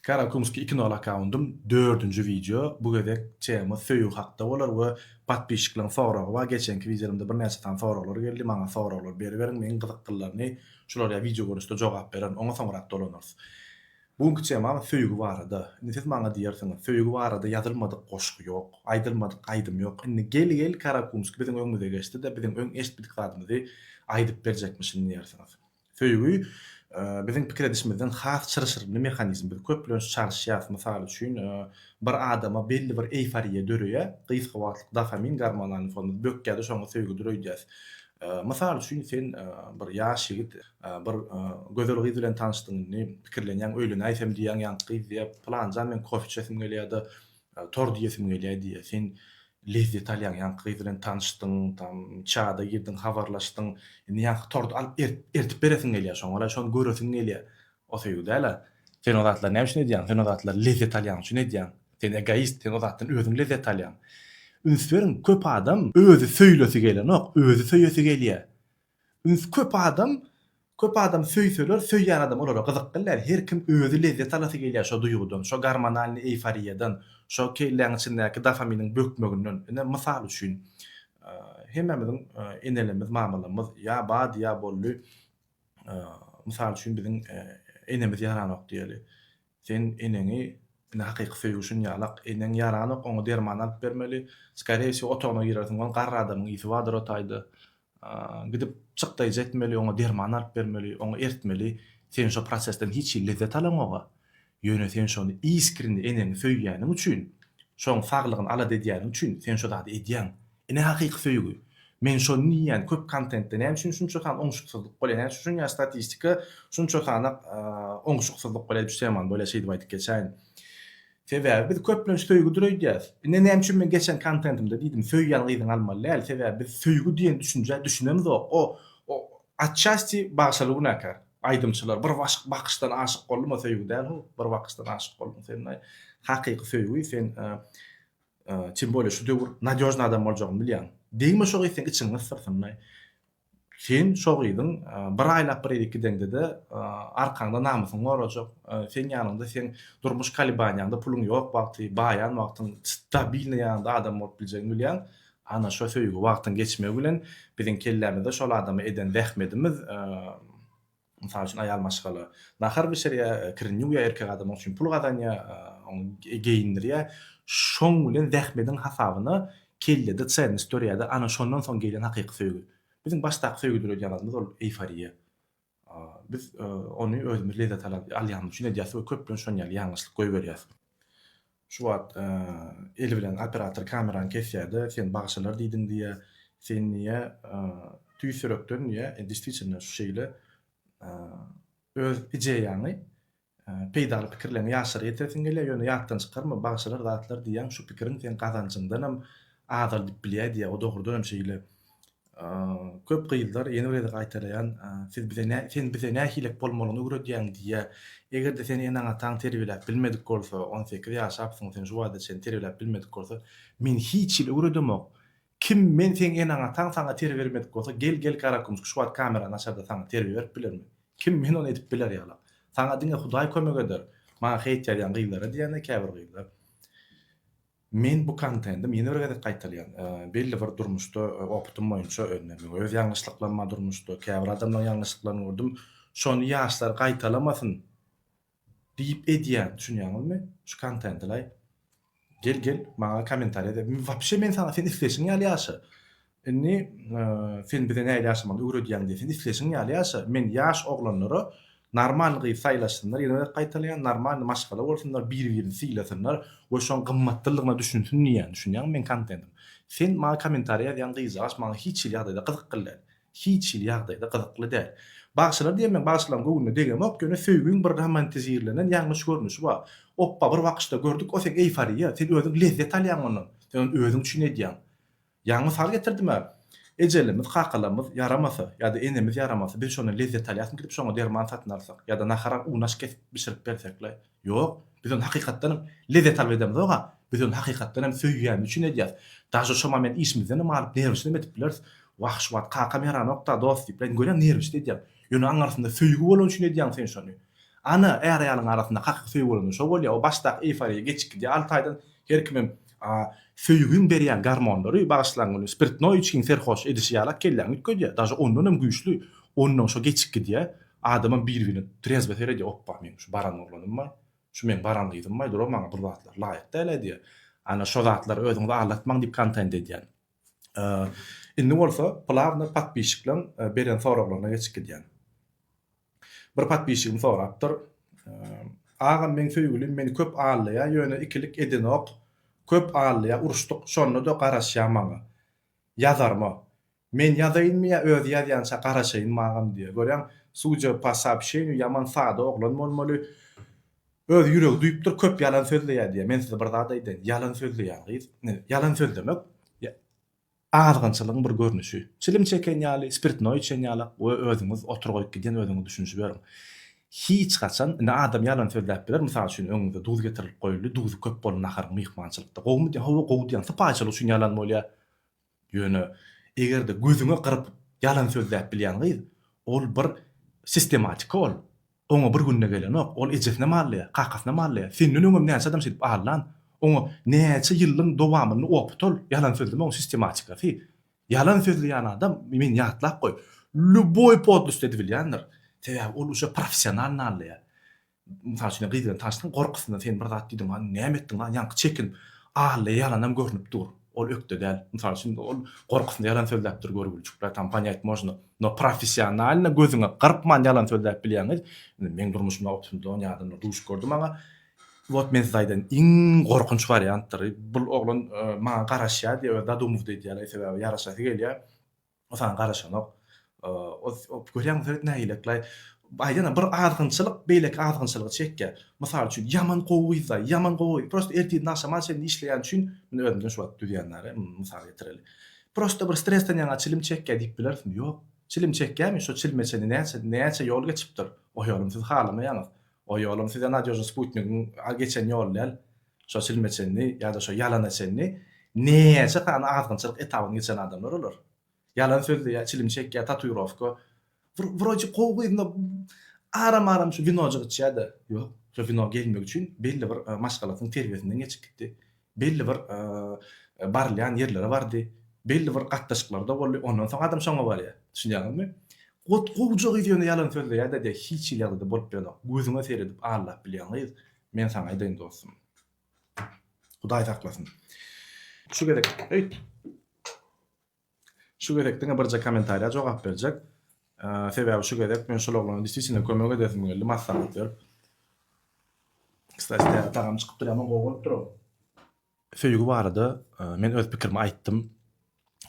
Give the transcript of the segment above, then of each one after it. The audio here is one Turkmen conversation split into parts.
Karakumski iki nol akkaundym dördünji wideo bu gezek tema söýgi hakda bolar we patpisçikleriň soragy bar geçenki wideolarymda birnäçe sany soraglar geldi maňa soraglar beriberiň meň gyzykgyllaryny şular ýa wideo görnüşde jogap bererin oňa soňrak dolanarys bu günki temam söýgi barada indi siz maňa diýersiňiz söýgi barada ýazylmadyk goşgy ýok aýdylmadyk aýdym ýok indi gel gel karakumski biziň öňümize geçdi-de biziň öň eşitmedik zadymyzy aýdyp berjekmişin diýersiňiz Söýgi, biziň pikir edişimizden has çylşyrymly mehanizm. Biz köplenç çalyşýarys, mysal üçin, bir adama belli bir eýforiýa döreýär, gysga wagtlyk dofamin gormonalny fonyny bökýär-de, şoňa söýgüdir öýdýäris. Mysal üçin, sen bir ýaş ýigit, bir gözel gyz bilen tanyşdyň, indi pikirlenýäň, öýlenäýsem diýýäň, ýaňky gyz diýýär, Pylanjan, meň kofe içesim gelýär-de, Tor diýesim gelýär diýýär. Sen lezzet alýaň, ýaňky gyz bilen tanyşdyň, tam çada girdiň, habarlaşdyň. Indi ýaňky torty alyp ertip beresiň gelýär, şoňa-la şony göresiň gelýär. O söýgi däl-ä. Sen o zatlary näme üçin edýäň? Sen o zatlary lezzet alýan üçin edýäň. Sen egoist, sen o zatdan özüň lezzet alýaň. Üns beriň, köp adam özi söýlesi gelenok, özi söýesi gelýär. Üns köp adam köp adam söýseler söýýän adam olara gyzyk bilýär her kim özi lezzet alasy gelýär şo duýgudan şo gormonalnyý eýforiýadan şo kelläň içindäki dofaminiň bökmeginden ine mysal üçin hemmämiziň enelerimiz mamalarymyz ýa bady ýa boldy mysal üçin biziň enemiz ýaranok diýeli Sen eneňi indi hakyky söýgi üçin ýalak, eneň ýaranok oňa derman alyp bermeli, skarýe wsýo otagyna girersiň ol garry adamyň ysy bardyr o taýda, gidip çyk daýjy etmeli oňa derman alyp bermeli, oňa ertmeli, sen şo prosesden hiç hili lezzet alaňoga, ýöne sen şony iskrini eneňi söýýäniň üçin, şoň saglygyny alada edýäniň üçin sen şo zady edýäň, Ine hakyky söýgi. Men şony diýýän köp kontentde näme üçin şunça san oňşuksyzlyk bolýar näme üçin şunýa statistika şunça sana oňşuksyzlyk bolýar diýip Süleýman bolýa şeýdip aýdyp geçäýin. Sebäbi biz köplenç söýgüdir öýdýäs. Ine näme üçin men geçen kontentimde diýdim söýýän gyzyňy almaly däl sebäbi biz söýgi diýen düşünjä düşünemzok o o atçasti bagşaly günäkär aýdymçylar bir başyk bakyşdan aşyk boldum o söýgi däl ho bir bakyşdan aşyk boldum sen hakyky söýgi sen Tim bolýa şu döwür nadýožny adam boljagyny bilýäň. Degme şo gyz seň içiňi gysdyrsynlaý. Sen şo gyzyň bir aýlap bir gezek gideňde-de arkaňda namysyňy gorajak. Seň ýanyňda seň durmuş kalibaniýaňda puluň ýok wagty, baýan wagtyň stabilnyý ýanyňda adam bolup biljegiňi bilýäň. Ana şo söýgi wagtyň geçmegi bilen biziň kellämizde şol adama eden zähmedimiz Mysal üçin, aýal maşgala nahar bişirýär, kirini ýuwýar, erkek adam oň üçin pul gazanýar, ony geýindirýär. Şoň bilen zähmediň hasabyna kellede çenность dörýär-de, ana, şondan soň gelýän hakyky söýgi. Biziň başdaky söýgi döredýänimiz ol eýforiýa. Biz ony özümiz lezzet alýanymyz üçin edýäris we köplenç şonuň ýaly ýalňyşlyk goýberýäris. Şu wagt eli bilen operator kamerany kesýärde sen bagşalar diýdiň diýýä sen diýýä tüýs ýürekden diýýä destiçinle şu şeýle öz ideýaňy peýdaly pikirleňi ýaşlara ýetiresiň gelýä ýöne ýatdan çykarma bagşalar zatlar diýýäň şu pikiriň seň gazanjyňdanam azaldyp bilýä diýýä o dogrudanam şeýle Köp gyzlar ýene bir gezek gaýtalaýan, siz bize nä, sen bize nähilek bolmalyny öwredýäň diýýär. Eger-de seni eneň-ataň terbiýeläp bilmedik bolsa, on sekiz ýaşapsyň, seni şu wagta çenli terbiýeläp bilmedik bolsa, men hiç hili öwredemok. Kim men seň eneň-ataň saňa terbiýe bermedik bolsa, gel gel Garakümüş, şu wagt kamerany açarda saňa terbiýe berip bilermi? Kim men ony edip biler ýala. Saňa diňe Hudaý kömek eder. Maňa heýt ýazýan gyzlara diýýän-de käbir gyzlar. Men bu kontendim ýene bir gezek gaýtalýan, belli bir durmuşda opytym boýunça özüme we öz ýalňyşlyklaryma durmuşda käbir adamlaryň ýalňyşlyklaryny gördüm, şony ýaşlar gaýtalamasyn diýip edýän, düşünýäňizmi? Şu kontentilaý gel gel maňa komentariýa de, wapşe men saňa sen isleşiň ýaly ýaşa, Indi sen bize nähili ýaşamagy öwredýäň diýýär. Sen isleşiň ýaly ýaşa. Men ýaş oglanlara normalny gyz saýlasynlar, ýene gezek gaýtalaýan, normalny maşgala bolsunlar, bir-birini sylasynlar we şoň gymmatlylygyna düşünsin diýýän. Düşünýäňmi meň kontentim? Sen maňa kommentariýa ýazýan gyzjagaç maňa hiç hili ýagdaýda gyzykly däl. Hiç hili ýagdaýda gyzykly däl. Bagşylar diýen meň bagşylaryň göwnüne degemok, ýöne söýgiň bir romantizirlenen ýalňyş görnüşi bar. Opba bir wakyşda gördük, o seň eýforiýa, sen özüň lezzet alýaň ondan. Sen ony özüň üçin edýäň. Ýaňy mysal getirdim-ä. Ejelerimiz, kakalarymyz ýaramasa, ýa-da enemiz ýaramasa, biz şondan lezzet alýasmy gidip şoňa derman satyn alsak, ýa-da nahara unaş kesip bişirip bersek-le? Ýok, biz ony hakykatdan hem lezzet alyp edemizog-a, biz ony hakykatdan hem söýýänimiz üçin edýäs. Daže şoma men işimizden hem alyp, nerwişli hem edip bileris. Wah, şu wagt kakam ýaranok-da, dost diýip bilerin, görýäň, nerwişli edýäň. Ýöne oň arasynda söýgi bolany üçin edýäň sen şony. Ana, är-aýalyň arasynda hakyky söýgi bolanda şo bolýar, o başdaky eýforiýa geçip gidýär alty aýdan, her kimem A söýgiň berýän garmonlary bagyşlan güni spirtnoý içgiň serhoş edişi ýalak kelläňi üýtgedýä, daže ondan hem güýçli, ondan şo geçip gidýä, adamam bir birine trezbo seredýä opba meň şu baran oglanymbaý, şu meň baran gyzymbaý dura maňa bur zatlar laýyk dälä diýýä, ana şo zatlar özüňizi aldatmaň diýip kontent edýän. A indi bolsa plawno podpişikleň beren soraglaryna geçip gidýän. Bir podpisçigim sorapdyr Agam meň söýgülim meni köp allaýa ýöne ikilik edenok köp allaýa uruşdyk şondada garaşýa maňa ýazarma men ýazaýynmy ýa özi ýazýança garaşaýynmy agam diýýä görýäň sudja po soobşeniýu ýaman sada oglan bolmaly öz ýüregi duýupdyr köp ýalan sözleýä diýýä men size bir zat aýdaýyn ýalan sözleýän gyz ýalan sözlemek Azgynçylygyň bir görnüşi. Çilim çeken ýaly, spirtnoý içen ýaly we özüňiz otur goýup gidýän özüňiz düşünişiberiň. Hiç haçan, indi adam ýalan sözläp biler, mysal üçin öňüňize duz getirilip goýuldy, duzy köp boldy naharyň myhmançylykda. Gowumy diýýän, hawa gowy diýýän, sypaýyçylyk üçin ýalan bolýa. Ýöne eger-de gözüňe gyryp ýalan sözläp bilýän gyz, ol bir sistematika ol. Oňa bir günde gelenok, ol ejesine mallaýa, kakasyna mallaýa, senden öňem näçe adam şeýdip allan, oňa näçe ýyllyň dowamynda oputal, ýalan sözlemegiň sistematikasy. Ýalan sözleýän adam, men ýatlap goý, lýuboý podlost edibilýändir. Sebäbi ol uje professional nallaýa. Mysal üçin, gyz bilen tanyşdyň, gorkusyndan sen bir zat diýdiň, hany näme etdiň, hany ýaňky çekinip, allaýa ýalanam görnüp dur. Ol ökde däl. Mysal üçin, ol gorkusynda ýalan sözläpdir görgüliçik brat, tam ponýat można. No professionalno gözüňe gyrpman ýalan sözläp bilýäňiz. Indi meň durmuşymda optym don ýadymda duş gördüm maňa. Wot men size aýdaýyn, iň gorkunç wariantdyr. Bul oglan maňa garaşýar diýip öz zadumowda edýär, sebäbi ýaraşasy gelýär. Saňa garaşanok. Görýäňmi, Fred nägileklaý. Aýdana bir azgynçylyk beýleki azgynçylygy çekýär. Mysal üçin, ýaman gowy gyz-da, ýaman gowy. Prosta ertirden-agşama çenli işleýän üçin, men özümden şu wagt düzýän däl, mysal getireli. Prosta bir stresden ýaňa çilim çekýär diýip bilersiň. Ýok. Çilim çekýärmi? Şo çilime çenli näçe, näçe ýol geçipdir. O ýolum siz halamaýaňyz. O ýolum size nadýožny sputnigiň geçen ýoly däl. Şo çilme çenli ýa-da şo ýalana çenli näçe sany azgynçylyk etabyny geçen adamlar olar. Ýalan sözleýär, çilim çekýär, tatuirowka. Bir wroje gowy gyzynda aram-aram şu winojyk içýär-de. Ýok, şo wino gelmegi üçin belli bir maşgalasynyň terbiýesinden geçip gitdi. Belli bir barylýan ýerlere bardy. Belli bir gatnaşyklarda boldy. Ondan soň adam şoňa barýar. Düşünýäňizmi? Gowja gyz ýöne ýalan sözleýär-de diýýär. Hiç hili ýagdaýda bolup bilenok. Gözüňe seredip allap bilýän gyz. Men saňa aýdaýyn dostum. Hudaý saklasyn. Şu gezek, eý. Şu gezek diňe birje kommentariýa jogap berjek. Sebäbi şu gezek men şol oglana distisine kömek edesim geldi, maslahat berip. Kstati, tagam çykypdyr, ýaman gowy bolupdyr o. Söýgi barada men öz pikirimi aýtdym.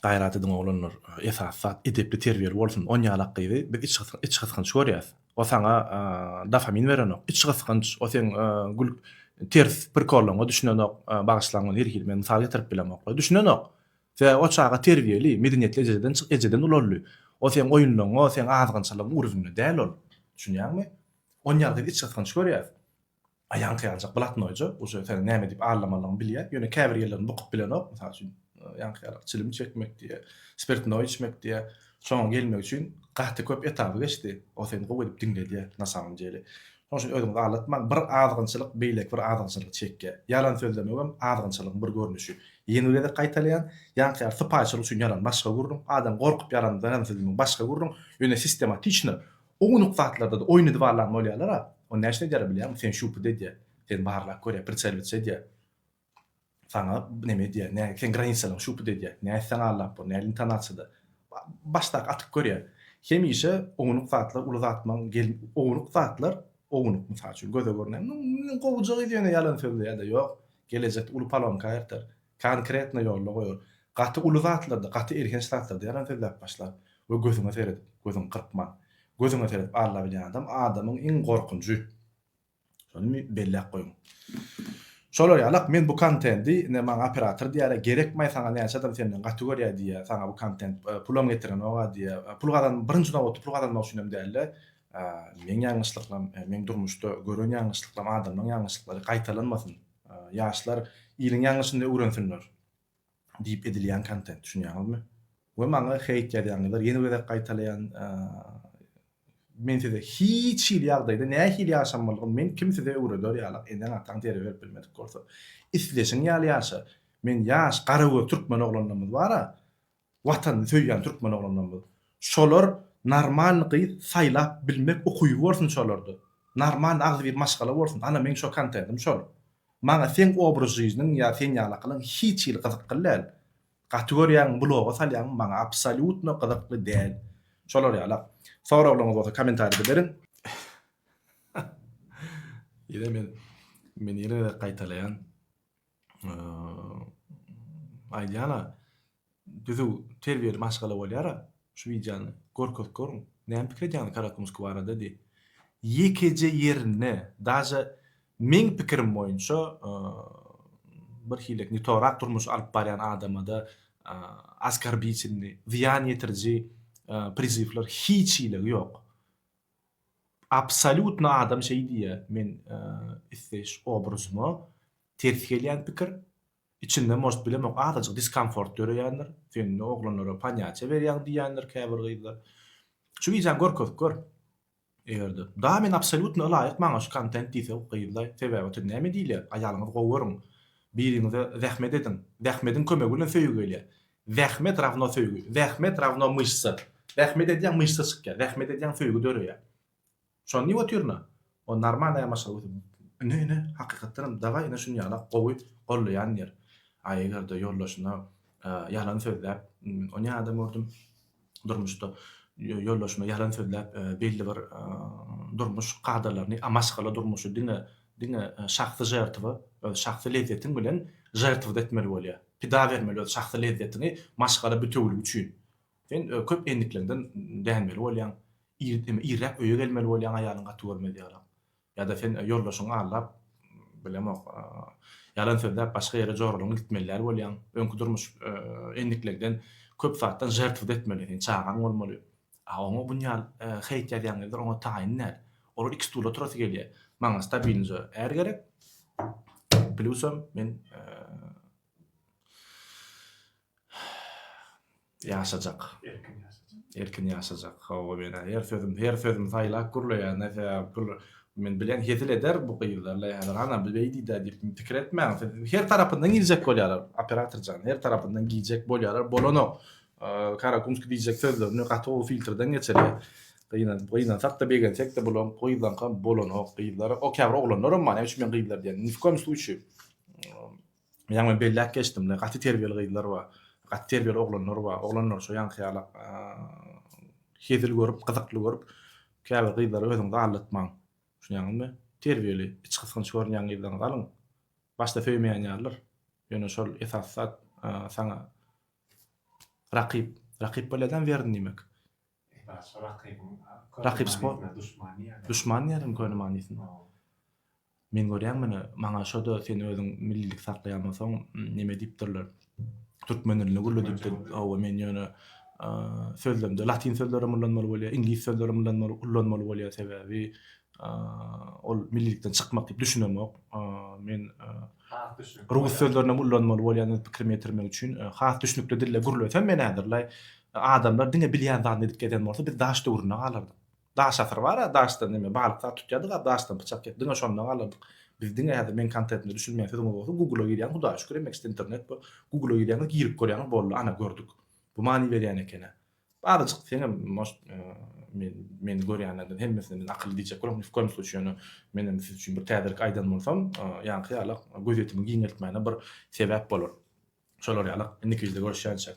Gaýrat ediň oglanlar, esasy zat edepli terbiýeli bolsun. On ýalak gyzy biz iç gysgynç görýäs. O saňa dofamin berenok. Iç gysgynç, o seň gül ters prikollaryňa düşünenok. Bagyşlaň muny her hili men mysal getirip bilemok. Düşünenok. Sebäbi o çaga terbiýeli, medeniýetli ejeden çyk ejeden ulaldy. O seň oýunlaryňa, seň azgynçylygyň ugrunda däl ol. Düşünýäňmi? On ýalak gyzy iç gysgynç görýäs. Aýaň syýanjak blatnoýja, uje seniň näme diýip allamalygyňy bilýär, ýöne käbir ýerlerini bukup bilenok, mysal üçin, ýaňkyýalyk çilim çekmek diýýär, spirtnoý içmek diýýär, şoňa gelmek üçin gaty köp etaby geçdi, o seni gowy edip diňledýär, na samom dele. Şonuň üçin özüňizi aldatmaň, bir azgynçylyk beýleki bir azgynçylygy çekýär. Ýalan sözlemegem azgynçylygyň bir görnüşi. Ýene bir gezek gaýtalaýan, ýaňkyýaly sypaýyçylyk üçin ýalan başga gürrüň, adam gorkup ýalan sözlemegiň başga gürrüň, ýöne sistematiçno, Ownuk zatlarda-da oýun edip alan bolýarlar-a. Ony näçe edýärler bilýärmiň? Seni şupuda edýär. Seni barlap görýär, pritseliwçi edýär. Saňa neme edýär, nä, seň granisalaryňy şupuda edýär. Nä etseň allap bor, näl intonasiýada. Başdaky atyp görýär. Hemişe ownuk zatlar uly zatmaň gel, ownuk zatlar, ownuk, mysal üçin, göze görünýän, Gowujak yz ýöne ýalan sözle ýa-da ýok, gelejekde uly palonka aýyrtar. Konkretno ýolda goýar. Gaty uly zatlarda, gaty elhenç zatlarda ýalan sözläp başlar we gözüňe seredip, gözüňi gyrpman, gözüňe seredip alla bilýän adam adamyň iň gorkunjy. Şony belläp goýuň. Şolar ýalak men bu kontendi ine maňa operator diýýärä gerekmaý saňa näçe adam senden gaty görýä diýýä saňa bu kontent pulam getirenogä diýýä pul gazan birinji nobatda pul gazanmak üçin hem dälde meň ýalňyşlyklam meň durmuşda gören ýalňyşlyklam adamlaň ýalňyşlyklary gaýtalanmasyn Ýaşlar iliň ýalňyşyny öwrensinler diýip edilýän kontent düşünýäňizmi? We maňa heýt ýazýaňyzlar ýene bir gezek gaýtalaýan men size hiç hili ýagdaýda nähili ýaşamalygyny men kim size öwreder ýalak eneň ataň zerek berip bilmedik bolsa isleşiň ýaly ýaşa men ýaş garagöz türkmen oglanlarymyz bara Watanyny söýýän türkmen oglanlarymyz. Şolar normalny gyz saýlap bilmek ukyby bolsun şolarda. Normalny agzybir maşgala bolsun. Ana meň şo kontentim şol. Maňa seň obraz žizniň ýa sen ýalakylyň hiç hili gyzykly däl. Gaty görýäňmi bloga salýaňmy maňa absolýutno gyzykly däl. Şolar ýalak. Soraglaryňyz bolsa komentarida beriň. Ýene men men ýene gaýtalaýan. aýdýan-a, düzüw terbiýeli maşgala bolýar-a, şu wideony görkezip görüň, näme pikir edýäňiz Karakumsky barada diý. Ýekeje ýerinde, daže meň pikirim boýunça bir hilek ne torak durmuş alyp barýan adamada askarbitilni, zyýan ýetiriji prizywlar hiç hilegi ýok. Absolýutno adam şeý diýýär, men isleýiş obrazyma ters gelýän pikir, içinde может bilemok azajyk diskomfort döreýändir, sen indi oglanlara panýaçe berýäň diýýändir käbir gyzlar. Şu wideony görkezip gör eger-de. Dagy men absolýutno ylaýyk maňa şu kontent diýse gyzlaý, sebäbi otyr näme diýilýär, aýalyňyzy gowy görüň, biriňize zähmet ediň, zähmediň kömegi bilen söýgi gelýär. Zähmet rawno söýgi. Zähmet rawno myşsa. Zähmet edýäň myşsa çykýar. Zähmet edýäň söýgi döreýär. Şony diýip otyryn-a. O normalny ýamaşa götür. Ine ine hakykatdanam daway ine şuny ýala gowy gollaýan diýer. A eger-de ýoldaşyna ýalan sözläp ony ýa adam gördüm. durmuşda ýoldaşyma ýalan sözläp, belli bir durmuş kadalaryny, a maşgala durmuşy diňe, diňe şahsy žertwa, öz şahsy lezzetiň bilen žertwda etmeli bolýar. Pida bermeli öz şahsy lezzetiňi maşgala bitewiligi üçin. Sen köp endikleňden dänmeli bolýaň. Ir, irräk öýe gelmeli bolýaň aýalyň gaty görmez ýalam. Ýa-da sen ýoldaşyňy aldap, bilemok, ýalan sözläp başga ýere joralaňy gitmelilär bolýaň. Öňki durmuş endiklegden köp zatdan žertwda etmeli. Seň çagaň bolmaly. A oňa bunýal heýt ýazýan gezler oňa taýyn däl. Olar iki stula oturasy gelýär. Maňa stabilnje är gerek. Plusam men Ýaşajak. Erkin ýaşajak. Erkin ýaşajak. Hawa men her sözüm, her sözüm saýlap gürleýän näsem gür. Men bilen hezil eder bu gyzlarla häzir ana bu beý diýdi diýip pikir etmäň. Siz her tarapyndan giýjek bolýarlar operator jan. Her tarapyndan giýjek bolýarlar. Bolanok. Karakumski diýjek sözlerini gaty gowy filtrden geçirýär. Gynan, gynansak-da begensekde bulaň gyzlaňkam bolanok. Gyzlar okýabr oglanlaram bar. Näme üçin men gyzlar diýýän. Ni w koýum sluçýy. Ýaňy belläp geçdim-le, gaty terbiýeli gyzlar bar, gaty terbiýeli oglanlar bar. Oglanlar şo ýaňky ýala hezil görüp, gyzykly görüp, käbir gyzlary özüňizi aldatmaň. Düşünýäňizmi? Terbiýeli, içgysgynç görünýän gyzlaryňyzy alyň. Başda söýmeýän ýalydyr. Ýöne şol esasy zat saňa rakyp. Rakyp bolýada-m weryn diýmek. Esasy rakybyň Rakyp sport. manysyna duşman diýýärler. Duşman diýýärmi köne manysyna? Hawa. Men görýän muny, maňa şo-da sen özüň millilik saklaýan bolsaň, neme diýipdirler, türkmen dilini gürledipdir. Hawa, men ýöne sözlemde latyn sözlerem ullanmaly bolýar, iňlis sözlerem ullanmaly ullanmaly bolýar, sebäbi ol millilikden çykmak diýip düşünemok. Men rus sözlerini hem ullanmaly bolýan öz pikrimi ýetirmek üçin. Has düşnükli dilde gürlesem men häzirlaý adamlar diňe bilýän zadyny edip gezen bolsa biz daş döwründe galardyk. Daş asyry bar-a, daşdan neme balyk zat tutýardyk-a, daşdan pyçak ýasadyk. Diňe şonda galardyk. Biz diňe häzir meň kontentyma düşünmeýän sözüňiz bolsa Google-a girýäň, Hudaýa şükür, emma işte internet bu. Google-a girýäňiz, girip görýäňiz, boldy, ana gördük. Bu many berýän eken-ä. Barajyk seňem может men meni görýänlerden hemmesine men akylly diýjek bolam ni w koýum sluçy ýöne menem siz üçin bir täzelik aýdan bolsam ýaňky ýalak gözýetimi giňeltmäne bir sebäp bolar şolar ýalak indiki wideoda görüşýänçäk.